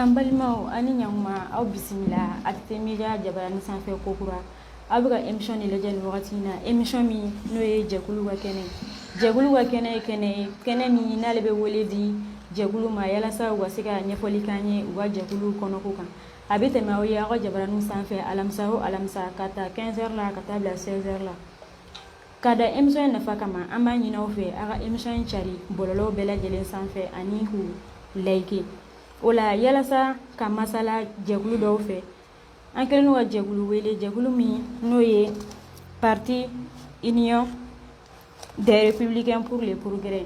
An balimaw aw ni ɲakuma aw bisimila ATT Media jabaranin sanfɛ ko kura aw bɛ ka émission nin lajɛ nin wagati in na émission min n'o ye jɛkulu ka kɛnɛ jɛkulu ka kɛnɛ ye kɛnɛ ye kɛnɛ min n'ale bɛ wele di jɛkulu ma yalasa u ka se ka ɲɛfɔli k'an ye u ka jɛkulu kɔnɔko kan a bɛ tɛmɛ aw ye aw ka jabaranin sanfɛ alamisa o alamisa ka ta quinze heures la ka taa bila seize heures la Ka da émission in nafa kama an b'a ɲini aw fɛ a ka émission in cari bɔlɔlɔw bɛɛ lajɛlen sanfɛ ani k'u like o la yalasa ka masala jɛkulu dɔw fɛ an kɛlen don ka jɛkulu wele jɛkulu min n'o ye parti Union des républicains pour le progrès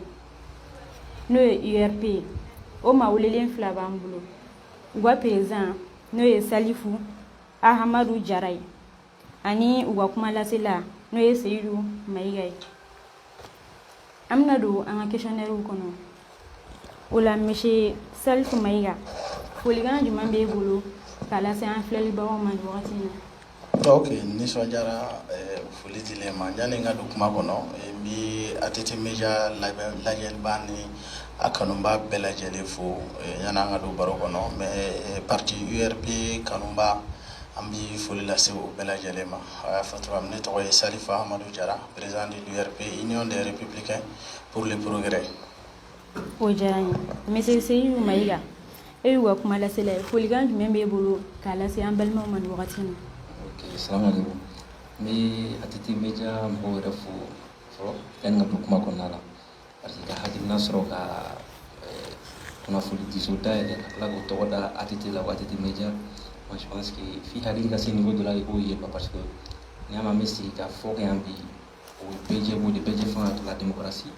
n'o ye URP ye o maa welelen fila b'an bolo u ka président n'o ye Salifu Ahamadu Jara ye ani u ka kuma lasela n'o ye Seyidu Mayiga ye an bɛna don an ka questionnaires kɔnɔ o la monsieur Salifu Mayiga folikan jumɛn b'e bolo k'a lase an filɛlibagaw ma nin wagati in na ok nisɔndiyara foli dilen ma yanni n ka don kuma kɔnɔ n bɛ ATT Media lajɛliba ni a kanunba bɛɛ lajɛlen fo yanni an ka don baro kɔnɔ mais parti URP kanunba An bɛ foli lase u bɛɛ lajɛlen ma a y'a fɔ cogoya min ne tɔgɔ ye Salifu Ahamadu Jara président de l'URP, Union des républicains pour le progrès o diyara an ye monsieur Seyidu Mayiga e y'u ka kuma lasela ye folikan jumɛn b'e bolo k'a lase an balimaw ma nin wagati in na ok salamuhalekum n bɛ ATT Media mɔgɔw yɛrɛ fo fɔlɔ yanni n ka don kuma kɔnɔna la parce que ka hakilina sɔrɔ ka kunnafoni diso dayɛlɛ ka tila k'o tɔgɔ da ATT la ATT Media moi je pense que f'i hakili ka se niveau dɔ la i k'o ye quoi parce que n'i y'a mɛn an bɛ sigikafɔ kɛ yan bi o ye bɛɛ jɛ ko de bɛɛ jɛ fanga de la démocratie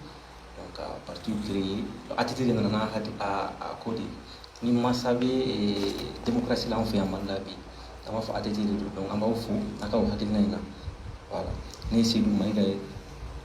donc ka parti créer ATT de nana n'a hakili a a ko de ni mansa bɛ démocratie la an fɛ yan Mali la bi an b'a fɔ ATT de don donc an b'aw fo a ka o hakilina in na voilà ne ye Seyidu Mayiga ye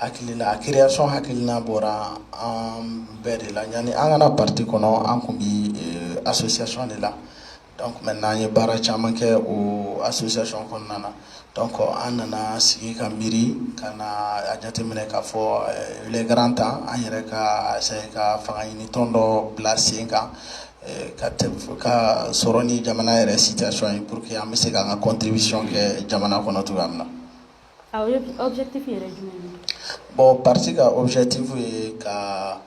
hakilila a création hakilina bɔra an bɛɛ de la yanni an ka na parti kɔnɔ an tun bɛ association de la donc maintenant an ye baara caman kɛ o association kɔnɔna na donc an nana sigi ka miiri ka na a jateminɛ k'a fɔ il est grand temps an yɛrɛ ka essayer ka fanga ɲini tɔn dɔ bila sen kan ka sɔrɔ ni jamana yɛrɛ situation ye pour que an bɛ se k'an ka contribution kɛ jamana kɔnɔ cogoya min na aw ye objectif yɛrɛ jumɛn ye bon parti ka objectif ye ka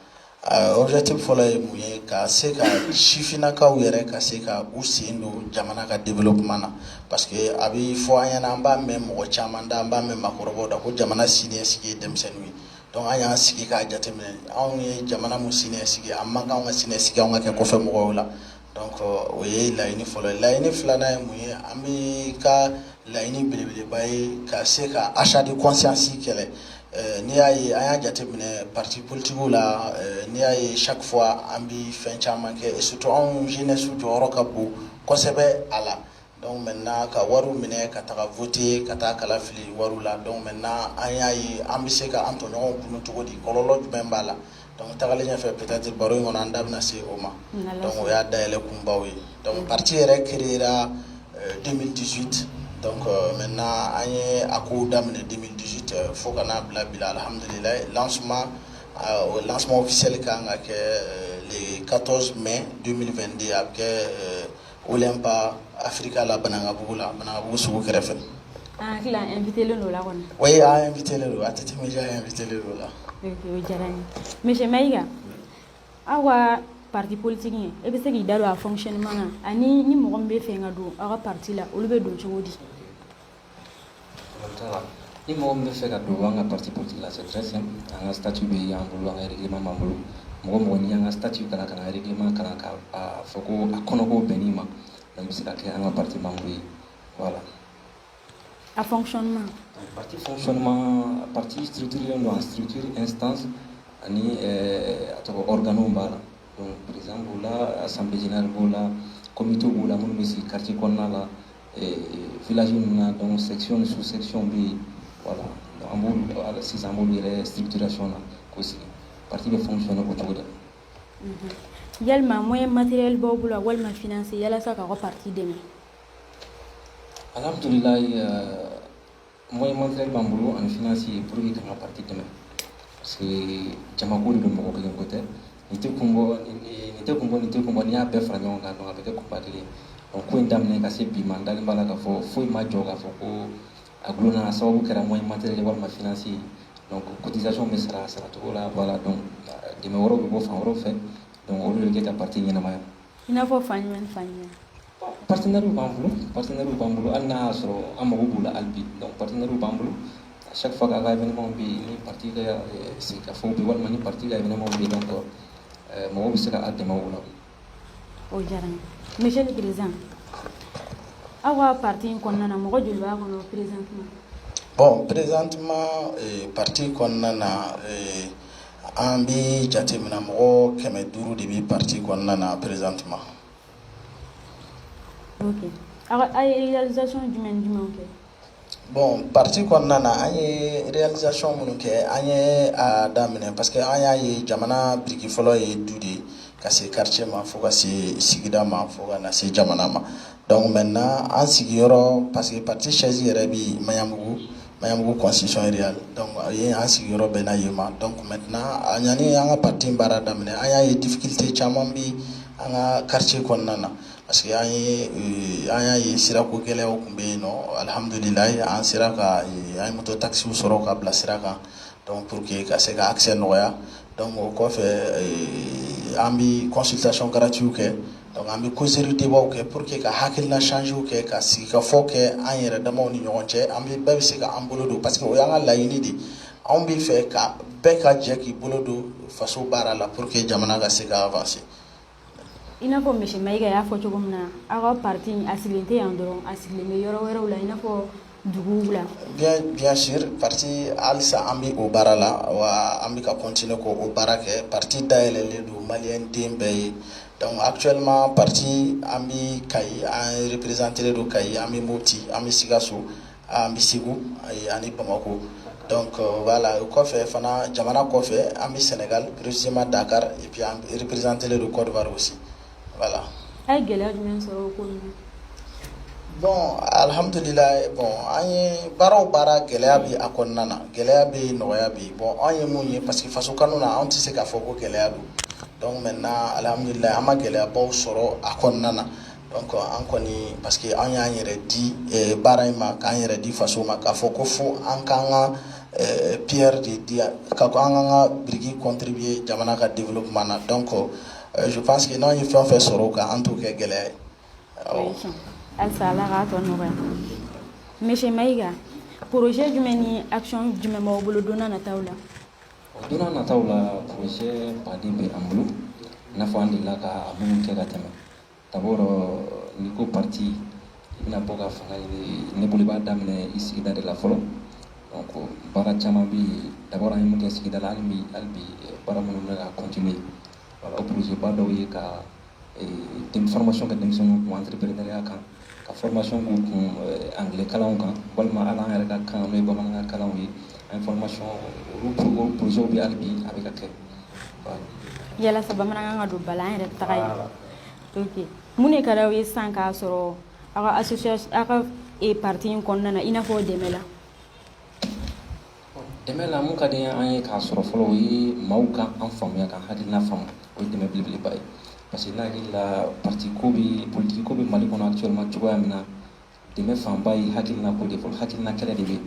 objectif fɔlɔ ye mun ye ka se ka sifinnakaw yɛrɛ ka se ka u sen don jamana ka développement na parce que a bɛ fɔ an ɲɛna an b'a mɛn mɔgɔ caman da an b'a mɛn maakɔrɔbaw da ko jamana siniɲɛsigi ye denmisɛnninw ye donc an y'an sigi k'a jateminɛ anw ye jamana min siniɲɛsigi a man kan anw ka siniɲɛsigi anw ka kɛ kɔfɛ mɔgɔw la Donc o ye laɲini fɔlɔ laɲini filanan ye mun ye an bɛɛ ka laɲini belebeleba ye ka se ka achat de conscience kɛlɛ n'i y'a ye an y'a jateminɛ parti politiquew la n'i y'a ye chaque fois an bɛ fɛn caman kɛ surtout anw jeunesse jɔyɔrɔ ka bon kosɛbɛ a la Dɔw mɛ na ka wari minɛ ka taga fute ka taa kala fili wari la dɔw mɛ na an y'a ye an bɛ se ka an tɔɲɔgɔnw kun cogo di kɔlɔlɔnlɔ jumɛn b'a la dɔnku tagalen ɲɛfɛ pte baro in kɔnɔ an da bɛna se o ma dɔnku o y'a day kunbaw ye dɔnku pati yɛrɛ ke denmisɛn dusute mɛ na an ye a ko daminɛ denmisɛn dusu tɛ fo ka n'a bila bila alihamdulila las o las bɛ seli ka kan ka kɛ katɔs mɛ den2den a bɛ kɛ O la ba afirika la banakabugu la banabugu sugu kɛrɛfɛ anfitlen don la kɔnɔ o y'an fit don a tɛ fit don la diyara mima ika aw ka pati politigi e bɛ se k'i da don a fɔmani na ani ni mɔgɔ bɛ fɛ ka don aw ka pati la olu bɛ don cogo di ni mɔgɔ min bɛ fɛ ka don an ka parti politique la c'est très simple an ka statut bɛ y'an bolo an ka règlement b'an bolo mɔgɔ o mɔgɔ n'i y'an ka statut kalan ka na règlement kalan ka a fɔ ko a kɔnɔko bɛnn'i ma donc i bɛ se ka kɛ an ka parti membre ye voilà. a fonctionnement. parti fonctionnement parti structurelen don en structure instance ani eh, a tɔgɔ organew b'a la donc président b'o la assemblée générale b'o la comité b'o la minnu bɛ sigi quartier kɔnɔna la. village ninnu na donc section ni sous section bɛ yen voilà an b'olu la sisan an b'olu yɛrɛ structuration na k'o sigi parti bɛ fonctionner o cogo de la yalima moyen matériel b'aw bolo walima financier yalasa k'aw ka parti dɛmɛ alhamdulilayi Moyen matériel b'an bolo ani financier pour que k'an ka parti dɛmɛ parce que jamako de don mɔgɔ kelen ko tɛ nin tɛ kun bɔ nin tɛ kun bɔ nin tɛ kun bɔ n'i y'a bɛɛ fara ɲɔgɔn kan donc a bɛ kɛ kunba kelen ye donc ko in daminɛ ka se bi ma n dalen b'a la k'a fɔ foyi ma jɔ k'a fɔ ko a gulonna a sababu kɛra moyen matériel walima finance ye donc cotisation bɛ sara a saracogo la voilà donc dɛmɛ wɛrɛw bɛ bɔ fan wɛrɛw fɛ donc olu de bɛ kɛ ka parti ɲɛnamaya I n'a fɔ fan jumɛn fan jumɛn partenairew b'an bolo partenairew b'an bolo hali n'a y'a sɔrɔ an mago b'u la hali bi donc partenairew b'an bolo à chaque fois k'a ka événement bɛ yen ni parti ka sigikafɔ bɛ walima ni parti ka événement bɛ yen donc mɔgɔw bɛ se ka an dɛmɛ o la. o diyara n ye monsieur le président aw ka parti in kɔnɔna na mɔgɔ joli b'a kɔnɔ présentement. bon présentement parti kɔnɔna na. An bɛ jateminɛ mɔgɔ kɛmɛ duuru de bɛ parti kɔnɔna na présentement aw ye réalisation jumɛn jumɛn kɛ bon parti kɔnɔna na an ye réalisation minnu kɛ an ye a daminɛ parce que an y'a ye jamana biriki fɔlɔ ye du de ye ka se quartier ma fo ka se sigida ma fo ka na se jamana ma donc maintenant an sigiyɔrɔ parce que parti siège yɛrɛ bɛ maɲanbugu Maɲanbugu concession rurale donc a ye an sigiyɔrɔ bɛnna yen ma donc maintenant an y'a ɲini an ka parti in baara daminɛ an y'a ye difficulté caman bɛ an ka quartier kɔnɔna na parce que an ye an y'a ye sirako gɛlɛyaw tun bɛ yen nɔ alihamudulilayi an sera ka an ye moto taxiw sɔrɔ ka bila sira kan donc pour que ka se ka accès nɔgɔya Donc o kɔfɛ an bɛ consultation gratuitew kɛ donc an bɛ causerie débatw kɛ pour que ka hakilina échangew kɛ ka sigikafɔ kɛ an yɛrɛ damaw ni ɲɔgɔn cɛ an bɛɛ bɛ se ka an bolo don parce que o y'an ka laɲini de anw b'a fɛ ka bɛɛ ka jɛ k'i bolo don faso baara la pour que jamana ka se ka avancer i n'a fɔ monsieur mayiga y'a fɔ cogo min na aw ka parti a sigilen tɛ yan dɔrɔn a sigilen bɛ yɔrɔ wɛrɛw la i n'a fɔ duguw la bien sûr parti halisa an bɛ o baara la wa an bɛ ka continuer ka o baara kɛ parti dayɛlɛlen don maliyɛn den bɛɛ ye donc actuellement parti an bɛ kayi an représentelen don kayi an bɛ mopti an bɛ sikaso An bɛ segu ani bamakɔ donc voilà kɔfɛ fana jamana kɔfɛ an bɛ sénégal précisément dakar et puis an représentelen don côte d'ivoire aussi voilà aw ye gɛlɛya jumɛn sɔrɔ bon alihamdulila bon an ye baara o baara gɛlɛya bɛ a kɔnɔna na gɛlɛya bɛ yen nɔgɔya bɛ yen bon anw ye mun ye parce que faso kanu na an tɛ se k'a fɔ ko gɛlɛya don donc maintenant alihamdulila an ma gɛlɛyabaw sɔrɔ a kɔnɔna na an kɔni parce que an y'an yɛrɛ di eh, baara in ma k'an yɛrɛ di faso ma k'a fɔ ko fo an k'an ka eh, pierre de di ka ko an k'an ka biriki contribuer jamana ka développement na donc eh, je pense que n'an ye fɛn o fɛn sɔrɔ o kan an t'o kɛ gɛlɛya ye awɔ halisa ala k'a tɔ nɔgɔya monsieur mayiga projet jumɛn ni action jumɛn b'aw bolo don nataw la don nataw la projet ba de bɛ an bolo i n'a fɔ an delila ka minnu kɛ ka tɛmɛ D'abord, euh, n'i ko parti i bɛna bɔ ka fanga ɲini ne bolo i b'a daminɛ i sigida de la fɔlɔ donc baara caman bɛ yen d'abord an ye mun kɛ sigida la hali bi hali bi euh, baara minnu bɛ ka continuer voilà o projet ba dɔw ye ka euh, formation kɛ denmisɛnninw kun entrepreneuriat kan ka formation k'u kun anglais kalan kan walima hali an yɛrɛ ka kan ye bamanankan kalan ye a ye formation olu projet bɛ yen hali bi a bɛ ka kɛ yalasa bamanankan ka don ba la an yɛrɛ taga ye mun de ka di aw ye san k'a sɔrɔ aw ka aw ka parti in kɔnɔna na i n'a fɔ o dɛmɛ la Dɛmɛ la mun ka di an ye k'a sɔrɔ fɔlɔ o ye maaw ka an faamuya ka hakilina faamu o ye dɛmɛ belebeleba ye parce que ne hakili la parti ko bɛ politique ko bɛ Mali kɔnɔ actuellement cogoya min na dɛmɛ fanba ye hakilina ko de ye fɔlɔ hakilina kɛlɛ de bɛ yen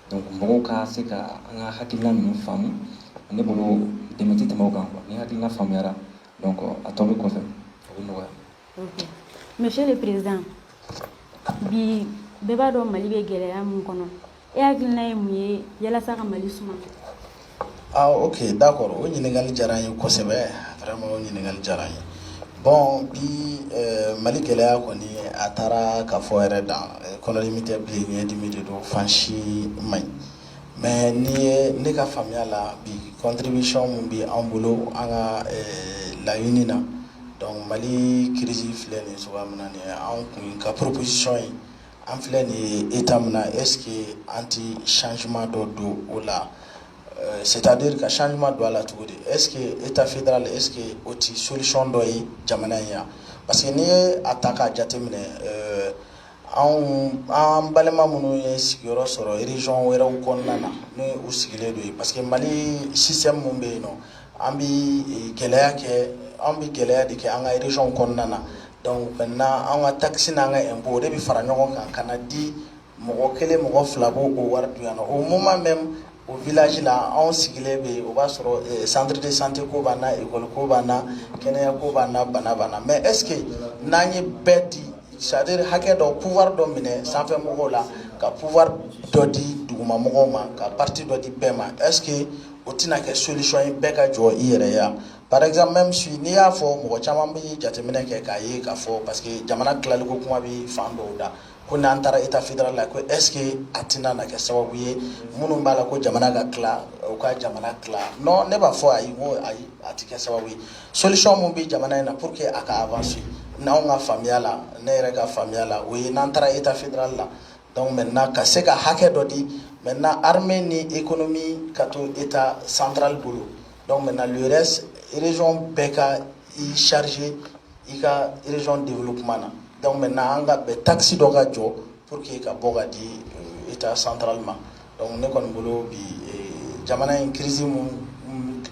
donc mɔgɔw ka se ka an ka hakilina ninnu faamu ne bolo dɛmɛ tɛ tɛmɛ o kan quoi ni hakilina faamuyara donc a tɔ bɛ kɔfɛ o bɛ nɔgɔya. Monsieur le président bi bɛɛ b'a dɔn mali bɛ gɛlɛya min kɔnɔ e hakilina ye mun ye yalasa ka mali suma aaa OK d'accord o ɲininkali diyara n ye kosɛbɛ vraiment o ɲininkali diyara n ye bon bi mali gɛlɛya kɔni a taara ka fɔ yɛrɛ dan kɔnɔdimi tɛ bilen ɲɛdimi de don fan si man ɲi Mais ni ye ne ka faamuya la bi contribution min bɛ an bolo an ka laɲini na donc Mali crise filɛ nin ye cogoya min na nin ye anw tun ka proposition ye an filɛ nin ye etat min na est ce que an tɛ changement dɔ don o la c'est à dire ka changement don a la cogo di est ce que etat fédéral est ce que o tɛ solution dɔ ye jamana in ye wa parce que n'i ye a ta k'a jate minɛ anw an balima minnu ye sigiyɔrɔ sɔrɔ région wɛrɛw kɔnɔna na n'u sigilen don yen parce que mali système min bɛ yen nɔ an bɛ gɛlɛya kɛ an bɛ gɛlɛya de kɛ an ka région kɔnɔna na donc maintenant an ka taxe n'an ka impôt o de bɛ fara ɲɔgɔn kan ka na di mɔgɔ kelen mɔgɔ fila b'o wari dun yan nɔ au moment même O village la anw sigilen bɛ yen o b'a sɔrɔ centre de santé ko b'an na école ko b'an na kɛnɛya ko b'an na bana b'an na mais est ce que n'an ye bɛɛ di c'est à dire hakɛ dɔ pouvoir dɔ minɛ sanfɛ mɔgɔw la ka pouvoir dɔ di duguma mɔgɔw ma ka partie dɔ di bɛɛ ma est ce que o tɛna kɛ solution ye bɛɛ ka jɔ i yɛrɛ ye par exemple même si n'i y'a fɔ mɔgɔ caman bɛ jateminɛ kɛ k'a ye k'a fɔ parce que jamana tilaliko kuma bɛ fan dɔw da ko n'an taara état fédéral la ko est ce que a tɛna na kɛ sababu ye minnu b'a la ko jamana ka tila u ka jamana tila non ne b'a fɔ ayi n ko ayi a tɛ kɛ sababu ye solution min bɛ jamana in na pour que a ka avancer n'anw ka faamuya la ne yɛrɛ ka faamuya la o ye n'an taara état fédéral la donc maintenant ka se ka hakɛ dɔ di maintenant armée ni économie ka to état central bolo donc maintenant le reste région bɛɛ ka i charger i ka région développement na donc maintenant an ka bɛn taxe dɔ ka jɔ pour que i ka bɔ ka di euh, état central ma donc ne kɔni bolo bi euh, jamana in crise mun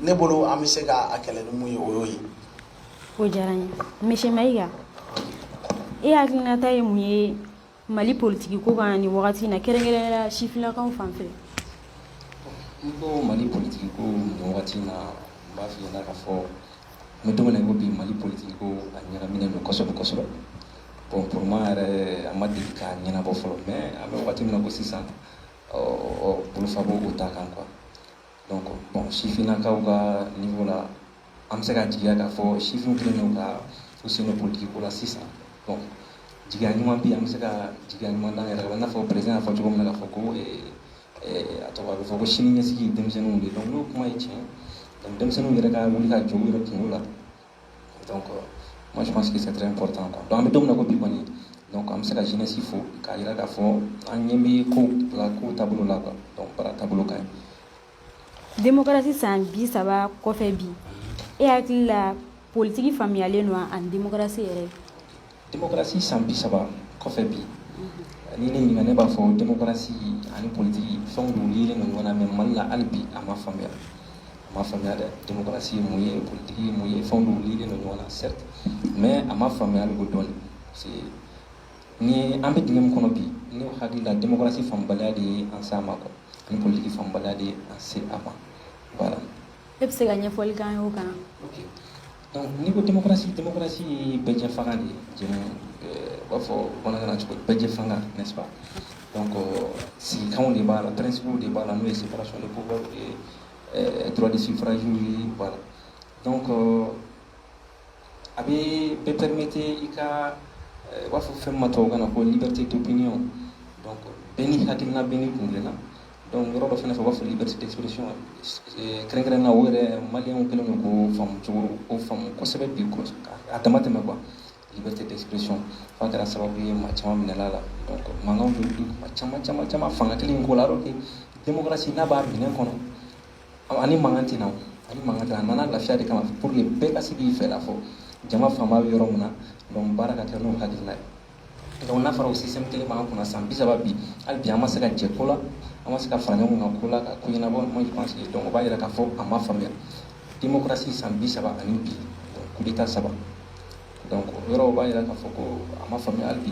ne bolo an bɛ se ka a kɛlɛ ni mun ye o y'o ye o diyara n ye monsieur mayiga e hakilinata ye mun ye Mali politigi ko kan nin wagati in na kɛrɛnkɛrɛnnenya sifinnakaw fan fɛ n ko mali politigi ko nin wagati na n b'a f'i ɲɛna k'a fɔ an bɛ don min na i ko bi mali politigi ko a ɲagaminen don kosɛbɛ kosɛbɛ bon pour moi yɛrɛ a ma deli k'a ɲɛnabɔ fɔlɔ mais an bɛ wagati min na ko sisan ɔ bolofabo o ta kan quoi donc bon sifinnakaw ka niveau la an bɛ se ka jigiya k'a fɔ sifinw kɛlen don ka u sen don politiki ko la sisan bon jigiya ɲuman bi an bɛ se ka jigiya ɲuman d'an yɛrɛ la i n'a fɔ président y'a fɔ cogo min na k'a fɔ ko a tɔgɔ a bɛ fɔ ko sini ɲɛsigi denmisɛnninw de donc n'o kuma ye tiɲɛ donc denmisɛnninw yɛrɛ ka wuli ka jɔ u yɛrɛ kunko la donc moi je pense que c'est très important quoi donc an bɛ don min na ko bi kɔni donc an bɛ se ka jeunesse fo k'a jira k'a fɔ an ɲɛ bɛ kow la kow taabolo la quoi donc baara taabolo ka ɲi démocratie san bi saba kɔfɛ bi e hakili la politigi faamuyalen don wa ani démocratie yɛrɛ démocratie san bi saba kɔfɛ bi ni ne ɲininka ne b'a fɔ démocratie ani politigi fɛn dulonnen don ɲɔgɔn na mais mali la hali bi a ma faamuya a ma faamuya dɛ démocratie ye mun ye politigi ye mun ye fɛn dulonnen don ɲɔgɔn na certes mais a ma faamuya e b'o dɔn Ni an bɛ d kɔnɔ bi ne hakili la densi fanbaliya de ye an san ma kɔnɔ niliki fanbaliya de an se a ma wala e bɛ se ka ɲɛfɔli kan o kan ni ko densi densi ye bɛɛjɛ fanga de ye b'a fɔ bamanan cogo bɛɛjɛ fanga ko sigikan de b'a la pɛsi de b'a la n'o ye sifara sɔrɔ ko dɔgɔtɔrɔsi faraji ye b'a la ko a bɛ bɛɛ permettre i ka u b'a fɔ fɛn min ma tubabukan na ko liberté d'opinion bɛɛ n'i hakilina bɛɛ n'i kun na donc yɔrɔ dɔ fana fɛ u b'a fɔ liberté d'expression kɛrɛnkɛrɛnnenya o yɛrɛ maliyɛnw kɛlen don k'o faamu k'o faamu kosɛbɛ bi a dama tɛmɛ quoi liberté d'expression f'a kɛra sababu ye maa caman minɛna mankan caman caman caman fanga kelen in ko la alors que démocratie n'i b'a minɛ kɔnɔ a ni mankan tɛ na a ni mankan tɛ na a nana lafiya de kama pour que bɛɛ ka se k'i fɛla fɔ jama fanba bɛ yɔrɔ min na donc baara ka kɛ n'o hakilila ye donc n'a fɔra o système kelen b'an kunna san bi saba bi hali bi an ma se ka jɛ ko la an ma se ka fara ɲɔgɔn kan ko la ka ko ɲɛnabɔ moi je pense que donc o b'a yira k'a fɔ a ma faamuya démocratie san bi saba ani bi coup d'état saba donc o yɔrɔ o b'a yira k'a fɔ ko a ma faamuya hali bi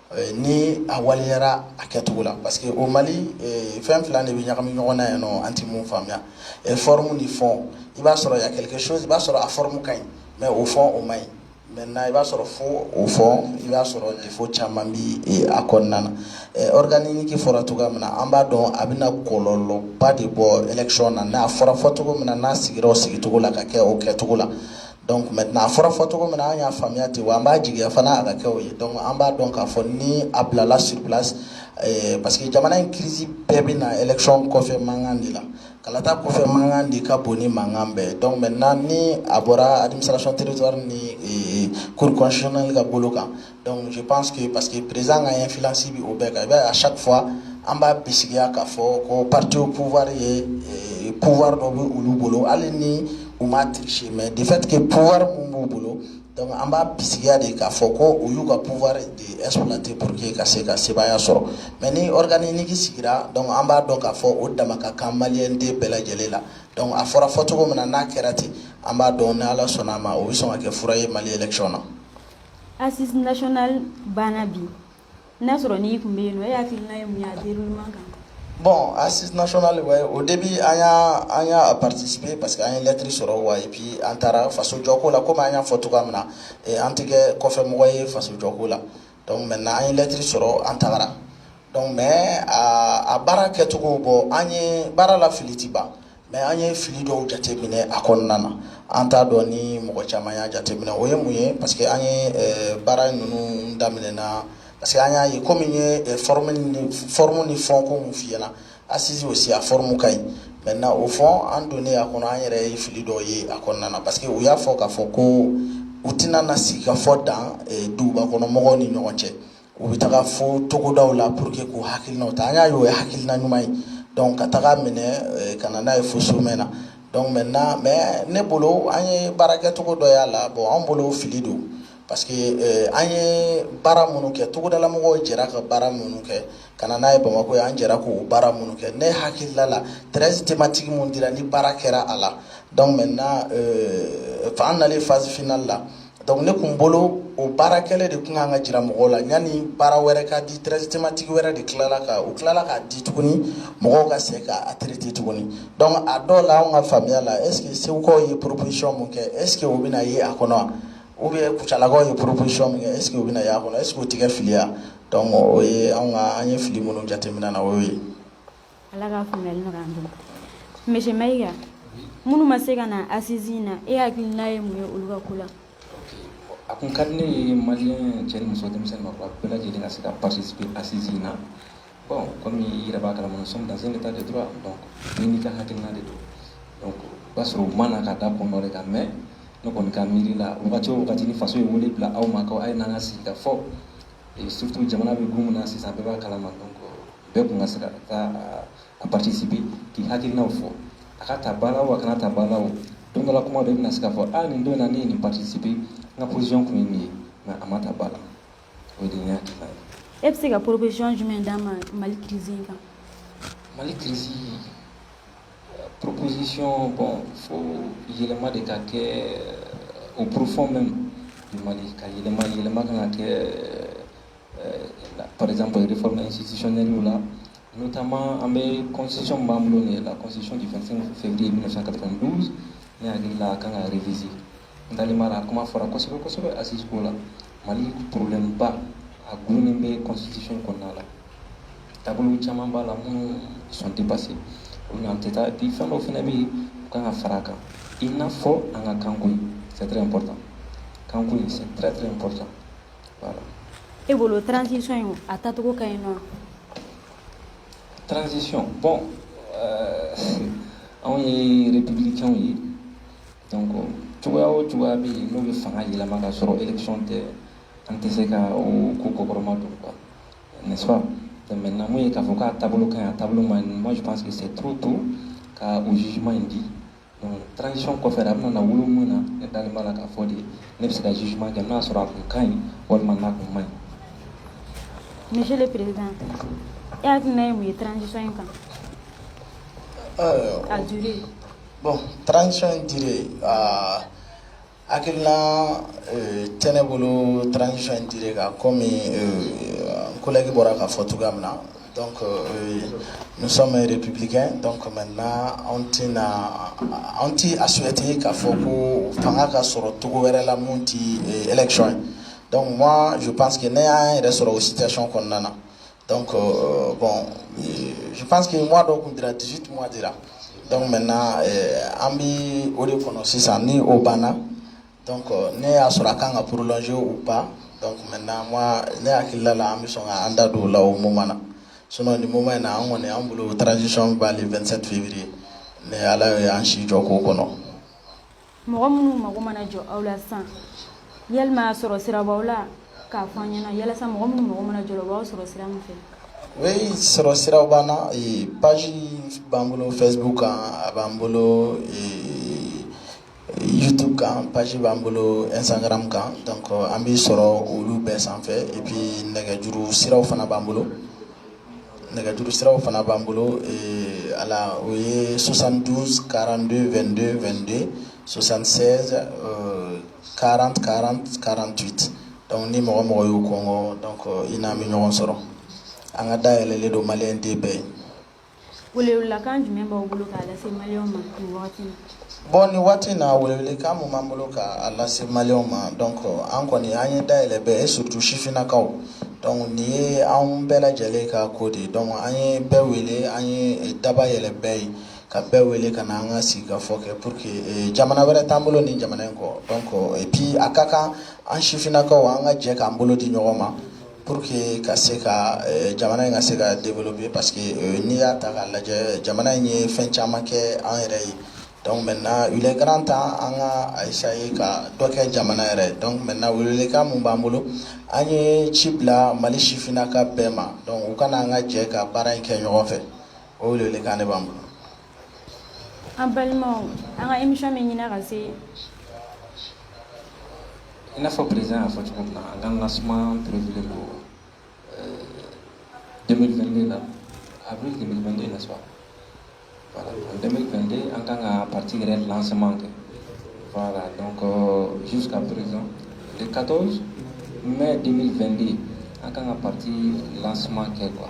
Eh, ni a waleyara a kɛcogo la parce que au mali eh, fɛn fila de bɛ ɲagami ɲɔgɔn na yan nɔ an tɛ mun faamuya eh, forme ni fond i b'a sɔrɔ il y a quelque chose i b'a sɔrɔ a forme ka ɲi mais au fond o man ɲi maintenant i b'a sɔrɔ fo au fond i b'a sɔrɔ défaut caman bi a kɔnɔna na organe unique fɔra cogoya min na an b'a dɔn a bɛna kɔlɔlɔba de bɔ élection na n'a fɔra fɔcogo min na n'a sigira o sigicogo la ka kɛ o kɛcogo la Donc maintenant a fɔra fɔ cogo min na an y'a faamuya ten wa an b'a jigiya fana a ka kɛ o ye donc an b'a dɔn k'a fɔ ni a bilala sur place eh, parce que jamana in crise bɛɛ bɛ na élection kɔfɛ mankan de la kalata kɔfɛ mankan de ka bon ni mankan bɛɛ donc maintenant ni a bɔra administration territoire ni eh, cour constitutionnelle ka bolo kan Donc je pense que parce que président ka influence bi o bɛɛ kan i b'a ye à chaque fois an b'a bisigiya k'a fɔ ko parti au pouvoir ye eh, pouvoir dɔ bɛ olu bolo hali ni u ma tricher mais de fait que pouvoir mun b'u bolo donc an b'a bisigiya de k'a fɔ ko u y'u ka pouvoir de exploiter pour que ka se ka sebaaya sɔrɔ mais ni organe unique sigira donc an b'a dɔn k'a fɔ o dama ka kan maliyɛn den bɛɛ lajɛlen la donc a fɔra fɔcogo min na n'a kɛra ten an b'a dɔn ni ala sɔnna a ma o bɛ sɔn ka kɛ fura ye mali élection na. Assises nationales banna bi n'a sɔrɔ n'i tun bɛ yen nɔ e hakilina ye mun ye a déroulement kan bon assises nationales ouais au début an y'a an y'a a participer parce que an ye lettre sɔrɔ wa et puis an taara faso jɔko la komi an y'a fɔ cogoya min na an tɛ kɛ kɔfɛ mɔgɔ ye faso jɔko la donc maintenant an ye lettre sɔrɔ an tagara donc mais a baara kɛcogo bon an ye baara la fili tɛ ban Mais an ye fili dɔw jateminɛ a kɔnɔna na an t'a dɔn ni mɔgɔ caman y'a jateminɛ o ye mun ye parce que an ye baara ninnu daminɛ na parce que an y'a ye kɔmi n ye forme ni fond ko min f'i ɲɛ na assises aussi a forme ka ɲi maintenant au fond an donnen a kɔnɔ an yɛrɛ ye fili dɔw ye a kɔnɔna na parce que u y'a fɔ k'a fɔ ko u tɛna na sigi ka fɔ dan duguba kɔnɔmɔgɔ ni ɲɔgɔn cɛ u bɛ taga fo togodaw la pour que k'u hakilinaw ta an y'a ye o ye hakilina ɲuman ye donc ka taga minɛ eh, ka na n'a ye fo sommet na donc maintenant mais ne bolo an ye baara kɛcogo dɔ y'a la bon an bolo fili don parce que eh, an ye baara minnu kɛ togodala mɔgɔw jɛra ka baara minnu kɛ ka na n'a ye bamakɔ yan an jɛra k'o baara minnu kɛ ne hakilila la treize thématique minnu dira ni baara kɛra a la donc maintenant eh, an nalen phase finale la donc ne kun bolo o baara kɛlen de tun kan ka jira mɔgɔw la yanni baara wɛrɛ ka di treize thématique wɛrɛ de tilala ka u tilala k'a di tuguni mɔgɔw ka se k'a traiter tuguni donc a dɔw la anw ka faamuya la est ce que segukaw ye proposition min kɛ est ce que o bɛna ye a kɔnɔ wa ou bien kucalakaw ye proposition min kɛ est ce que o bɛna ye a kɔnɔ est ce que o tɛ kɛ fili ye wa donc o ye anw ka an ye fili minnu jateminɛ na o y'o ye Ala ka faamuyali nɔgɔya an bolo monsieur Mayiga minnu ma se ka na assise in na e hakilina ye mun ye olu ka ko la a kun ka di ne ye maliyɛn cɛ ni muso denmisɛnnin maakɔrɔba bɛɛ lajɛlen ka se ka participer assise in na bon comme i yɛrɛ b'a kalama nous sommes dans un état de droit donc bɛɛ n'i ka hakilina de don donc o b'a sɔrɔ u ma na ka da kun dɔ de kan mais ne kɔni ka miiri la wagati o wagati ni faso ye wele bila aw ma ko a ye n'an ka sigi ka fɔ surtout jamana bɛ gun min na sisan bɛɛ b'a kalama donc bɛɛ kun ka se ka taa a participer k'i hakilinaw fɔ a ka ta ba la o a kana ta ba la o don dɔ la kuma dɔ i bɛna se ka fɔ a nin don na ne ye nin participer n ka position kun ye nin ye mais a ma ta ba la o de ye ne hakilina ye e bɛ se ka proposition jumɛn d'a ma mali crise in kan mali crise proposition bon faut yɛlɛma de ka kɛ au profond même du mali ka yɛlɛma yɛlɛma kan ka kɛ par exemple réforme institutionnellew la, notamment an bɛ constitution b'an bolo nin la constitution du 25 février 1992 ne hakili la a kan ka réviser n dalen b'a la a kuma fɔra kosɛbɛ kosɛbɛ assise ko la mali problème ba a dulonnen bɛ constitution kɔnɔna la taabolo caman b'a la minnu sont dépassés olu n'an tɛ taa bi fɛn dɔw fana bɛ yen u kan ka fara a kan i n'a fɔ an ka kanko in c'est très important kanko in c'est très très important e bolo transiso in a tacogo ka ɲi nɔn tranzsisi bɔn anw ye yɛrɛpkɛw ye cogoya o cogoya bɛ yen n'u bɛ fanga yɛlɛma ka sɔrɔ ekicɔn tɛ an tɛ se ka ko kɔkɔrɔma don kuwa ne namu ye k'a fɔ k'a taabolo ka a taabolo ma ɲi mɔgɔ pa que se to to ka u jiuman in di Transition kɔfɛ a bɛna na wolo min na ne dalen b'a la k'a fɔ de ne bɛ se ka jugement kɛ n'a sɔrɔ a tun ka ɲi walima n'a tun man ɲi. Monsieur le Président e hakilina ye mun ye transition in kan? Ɛɛ a durée. Bon transition in durée aa Hakiina t ne bolo taarasisi in di kan ko kolɛki bɔra ka fɔ cogoya min na dɔn musosameri ppkɛ dɔn kɔmi na anw tɛ na anw tɛ a soti ka fɔ ko fanga ka sɔrɔ cogo wɛrɛ la min tɛ ec ye dɔnku ma jo pa que ne y'a yɛrɛ sɔrɔ o sison kɔnɔna na Donc, euh, bon, euh, je pense que moi, donc, mun dira 18 mois dira. Donc, maintenant, euh, an bɛ o de kɔnɔ sisan ni o banna donc euh, ne y'a sɔrɔ a kan ka prolonger ou pas donc maintenant moi ne hakilila la an bɛ sɔn ka an da don o la o moment na sinon nin moment in na an kɔni an bolo transition bɛ ban le 27 février ni Ala ye an si jɔ k'o kɔnɔ. mɔgɔ minnu mago mana jɔ aw la san yali masɔrɔ sira b'aw la k'a fɔ an ɲɛna yalasa mɔgɔ minnu mago mana jɔ la u b'aw sɔrɔ sira min fɛ oui sɔrɔ siraw b'an na page b'an bolo facebook kan a b'an bolo youtube kan page b'an bolo instagram kan donc an bɛ sɔrɔ olu bɛɛ sanfɛ et puis nɛgɛjuru siraw fana b'an bolo nɛgɛjuru siraw fana b'an bolo ala o ye sosan karan222 sosan karan karan karan dɔnku ni mɔgɔ mɔgɔ y'u kɔngɔ i n'an bɛ ɲɔgɔn sɔrɔ an ka da yɛlɛlen don mali den bɛɛ ye Welewelekan jumɛn b'aw bolo k'a lase maliyɛnw ma nin wagati in na? Bon nin waati in na welewelekan min b'an bolo k'a lase maliyɛnw ma donc an kɔni an ye da yɛlɛ bɛɛ ye surtout sifinnakaw donc nin ye anw bɛɛ lajɛlen ka ko de ye donc an ye bɛɛ wele an ye daba yɛlɛ bɛɛ ye ka bɛɛ wele ka na an ka sigikafɔ kɛ pour que eh, jamana wɛrɛ t'an bolo nin jamana in kɔ donc et puis a ka kan an sifinnakaw an ka jɛ k'an bolo di ɲɔgɔn ma Pour que ka se ka eh, jamana in ka se ka développer parce que eh, n'i y'a ta k'a lajɛ jamana in ye fɛn caman kɛ an yɛrɛ ye donc maintenant il est grand temps an ka a essayer ka dɔ kɛ jamana yɛrɛ donc maintenant welewelekan min b'an bolo an ye ci bila Mali sifinnaka bɛɛ ma donc u ka na an ka jɛ ka baara in kɛ ɲɔgɔn fɛ o welewelekan de b'an bolo. an balimaw an ka émission bɛ ɲina ka se i n'a fɔ président y'a fɔ cogo min na an ka lancement prévulen don euh, 2022 la avril 2022 n'est-ce pas voilà en 2022 an kan ka parti yɛrɛ lancement kɛ voilà donc euh, jusqu'à présent le 14 mai 2022 an kan ka parti lancement kɛ quoi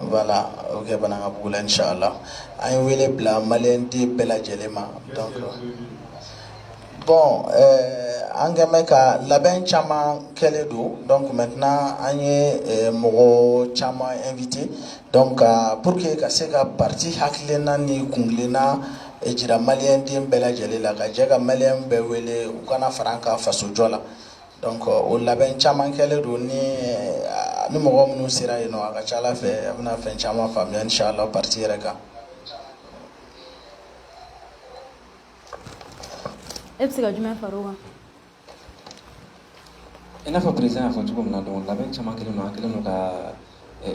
Voilà o kɛ Banankabugu la inchallah an ye wele bila maliyɛn den bɛɛ lajɛlen ma donc bon an kɛlen bɛ ka labɛn caman kɛlen don donc maintenant an ye mɔgɔ caman invité donc pour que ka se ka parti hakilina ni kuntilenna jira maliyɛn den bɛɛ lajɛlen la ka jɛ ka maliyɛn bɛɛ wele u ka na fara an kan fasojɔ la Donc o labɛn caman kɛlen don ni ni mɔgɔ minnu sera yen nɔ a ka ca a la fɛ a bɛna fɛn caman faamuya inchallah parti yɛrɛ kan e bɛ se ka jumɛn fara wa i n'a fɔ président y'a fɔ cogo min na donc labɛn caman kɛlen don an kɛlen ka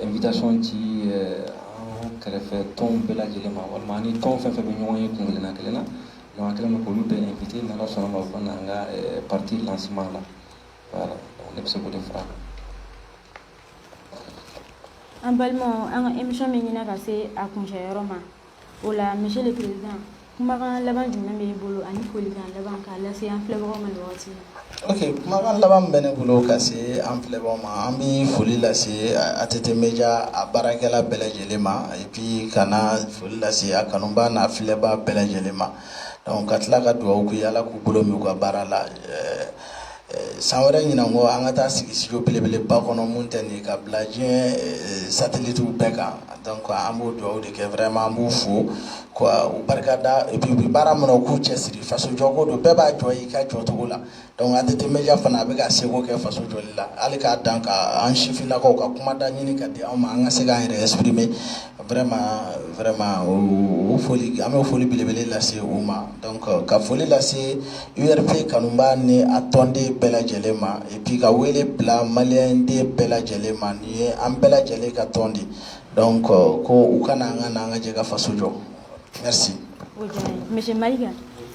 Invitation ci an kɛrɛfɛ tɔn bɛɛ lajɛlen ma walima an ni tɔn fɛn o fɛn bɛ ɲɔgɔn ye kuntilenna kelen na donc an kɛlen k'olu bɛɛ invité n'Ala sɔnna a ma fana an ka parti lancement la ne bɛ se k'o de fara a kan an balimaw an ka émission bɛ ɲina ka se a kuncɛ yɔrɔ ma o la monsieur le président kumakan laban jumɛn bɛ e bolo ani folikan laban k'a lase an filɛbagaw ma nin wagati la ok kumakan laban bɛ ne bolo ka se an filɛbagaw ma an bɛ foli lase ATT Media a baarakɛla bɛɛ lajɛlen ma et puis ka na foli lase a kanubaa n'a filɛbaa bɛɛ lajɛlen ma donc ka tila ka dugawu k'u ye Ala k'u bolo mɛn u ka baara la san wɛrɛ ɲinan kɔ an ka taa sigi studio belebeleba kɔnɔ minnu tɛ nin ye ka bila diɲɛ satellite bɛɛ kan donc an b'o dugawu de kɛ vraiment an b'u fo ka u barika da et puis u bɛ baara min na u k'u cɛsiri faso jɔko don bɛɛ b'a jɔ i ka jɔcogo la donc ATT media fana a bɛ ka seko kɛ faso jɔli la hali k'a dan ka an sifinnakaw ka kumada ɲini ka di an ma an ka se k'an yɛrɛ exprimer vraiment vraiment o foli an bɛ foli belebele lase u ma donc ka foli lase URP kanubaa ni a tɔnden bɛɛ lajɛlen ma et puis ka wele bila malien den bɛɛ lajɛlen ma nin ye an bɛɛ lajɛlen ka tɔn de donc ko u ka na an ka na an ka jɛ ka faso jɔ merci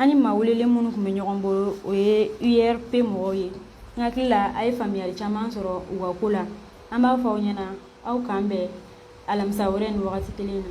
an ni maa welelen minnu tun bɛ ɲɔgɔn bolo o ye URP mɔgɔw ye n hakili la a ye faamuyali caman sɔrɔ u ka ko la an b'a fɔ aw ɲɛna aw k'an bɛn alamisa wɛrɛ nin wagati kelen na